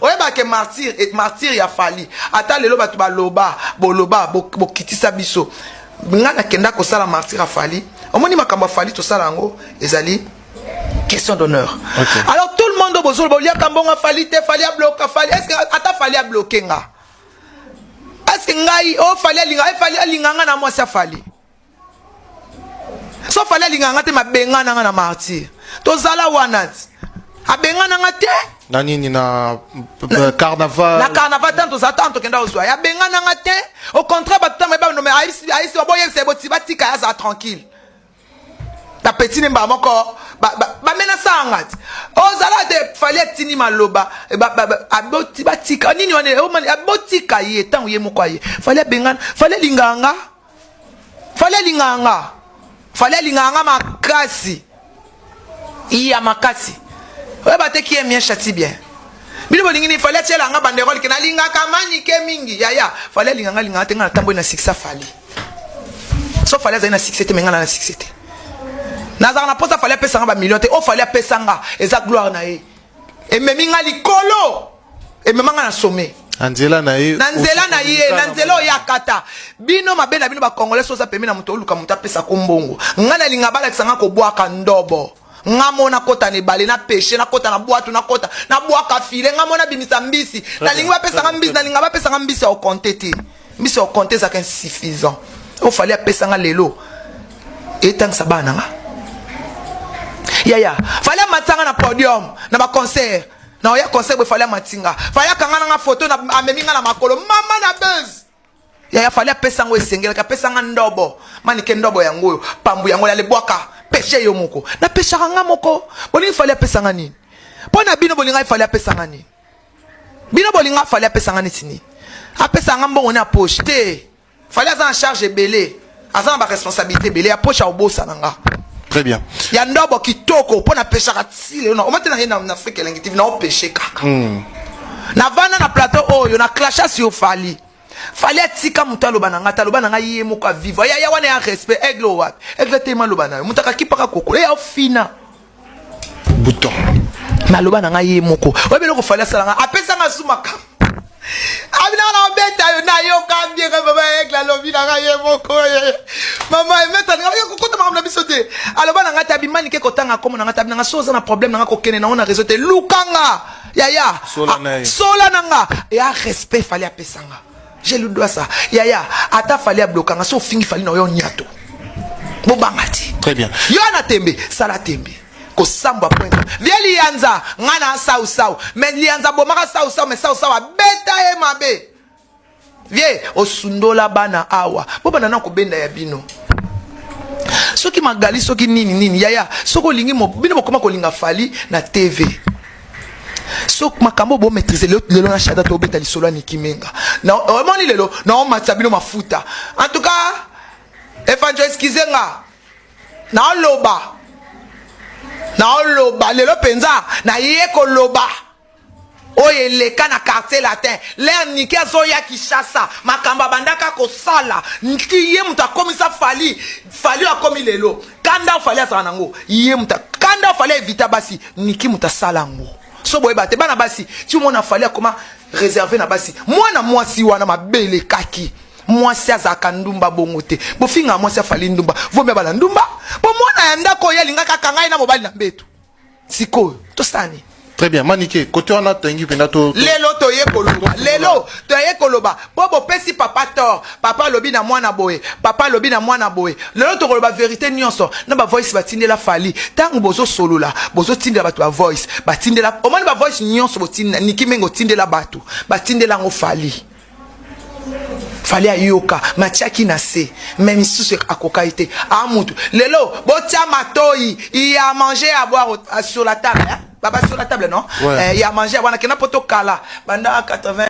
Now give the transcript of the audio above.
oyeba ke martyr et martyr ya fali ata lelo bato baloba boloba bokitisa biso ngai nakenda kosala martyr ya fali omoni makambo ya fali tosala yango ezali question d'honneur okay. alors tout le monde oyo bozoloba oliaka mbongo fali te fali abloka fali est ce que ata fali abloke nga est ce que ngai o oh, fali alinga eh, fali alinga nga na mwasi afali so fali alingaka nga te mabengana nga na martyr tozala wana abengana nga te na nini na euh, carnaval na carnaval ntango tozala ntango tokenda kozwa ye abengana nga te au contraire bato ntango ebanome ayisi baboyebisa ye boti batika ye azala tranquille na peti ne mbala moko bamenasaka nga ti ozala te fali atindi maloba eh, batika nini wana eh, oh, abotika ye ntango ye moko aye fali abengana fali alingaka nga fali alingaka nga fali alingaka nga makasi iya makasi oyo bateki ye mien chati bien bino bolingi nini fali atyela nga banderole ke nalingaka manike mingi yaya fali alingaka alingaka te nga natamboli na sikisa fali so fali azali na sikise te me nga na na sikise te nazalaka na mposa fali apesa nga bamillion te o oh, fali apesa nga eza gloire na ye ememi nga likolo emema nga na sommet na nzela na ye na nzela na ye na nzela oyo akata bino mabe na bino bakongole soza pemi na moto oluka moto apesa ko mbongo nga nalinga balakisa nga kobwaka ndobo nga mona kota na ebale na peshe nakota na bwatu nakota nabwaka file nga mona bimisa mbisi nalingi bapesanga mbisi nalinga bapesanga mbisi ya okonte te mbisi ya okonte ezalaka insuffisant oyo fali apesa nga lelo etangisa bana na nga yaya fali amatisa nga na podium na baconcert na oya concert boye fali amati nga fali akanga na nga foto amemi nga na makolo mama na bese yaya fali apesa yango esengelaki apesa nga ndobo manike ndobo yango oyo pambu yango yalebwaka peshe yo moko napeshaka nga moko bolingi fali apesa nga nini mpo na bino bolingaki fali apesa nga nini bino bolinga fali apesa nga neti nini apesa nga mbongo ne ya poche te fali aza na charge ebele aza na baresponsabilité ebele ya poche aobosana nga très bien ya ndobo kitoko mpo napeshaka ti lelo na omate na ye na afrika elengi tv naopeshe kaka hmm. navanda na plateau oyo na clasha sur fali fali atika moto aloba na ngai te aloba na ngai ye moko aviva yaya wana ya respect aigle wapi aigle telema aloba na yo moto akakipaka kokolo eya ofina bouton naloba na ngai ye moko oyebi eloko fali asala ngai apesa ngai su makambo abinaka na obeta yo nayoka bieka mama egle alobi na ngai ye moko ye mama emeta na ngai kokota makambo na biso te aloba na ngai te abimani ke kotanga nkombo na ngai te abinanga so oza na problème na ngai kokende nango na réseau te lukanga yaya sola na nga ya respect fali apesa nga je lui dois ça yaya ata fali ablokanga so ofingi fali na oyo nyato bobanga ti très bien yo na tembe sala tembe kosambwa pointe vie liyanza ngai na sausau me liyanza abomaka sausau me sausau abeta ye mabe vie osundola bana awa bobanda na kobenda ya bino soki magali soki nini nini yaya soki olingi bino bokoma kolinga fali na tv so makambo bo maîtrise lelo lelo na shada to beta lisolo ya Niki Menga na omoni lelo na o matsa bino mafuta en tout cas efanjo excuse nga na oloba na oloba lelo penza na ye ko loba oyo eleka na quartier latin lere nike azoya kinshasa makambo abandaka kosala nti ye moto akomisa fali fali akomi lelo kanda fali azala nango ye muta kanda fali evita basi niki muta sala ngo so boyeba te bana basi ti omona fali akoma réservé na basi mwana mwasi wana mabele kaki mwasi azalaka ndumba bongo te bofingaka mwasi afali ndumba vomi abala ndumba mpo mwana ya ndako oyo alingaka kaka ngai na mobali na mbetu sikoyo tosala nini très bien manike kote wana toyengi mpenza to lelo toye koloba lelo toye koloba mpo bopesi papa tor papa alobi na mwana boye papa alobi na mwana boye lelo tokoloba verité nyonso na bavoice batindela fali ntango bozosolola bozotindela bato bavoice batindela omoni bavoice nyonso botinda niki mingi otindela bato batindela yango fali fali ayoka matiaki na se me misusu akokaki te a ah, mutu lelo botia matoi ya manger ya boire euh, sur la table hein? baba sur la table non ouais. eh, ya manger wana kenda poto kala banda 80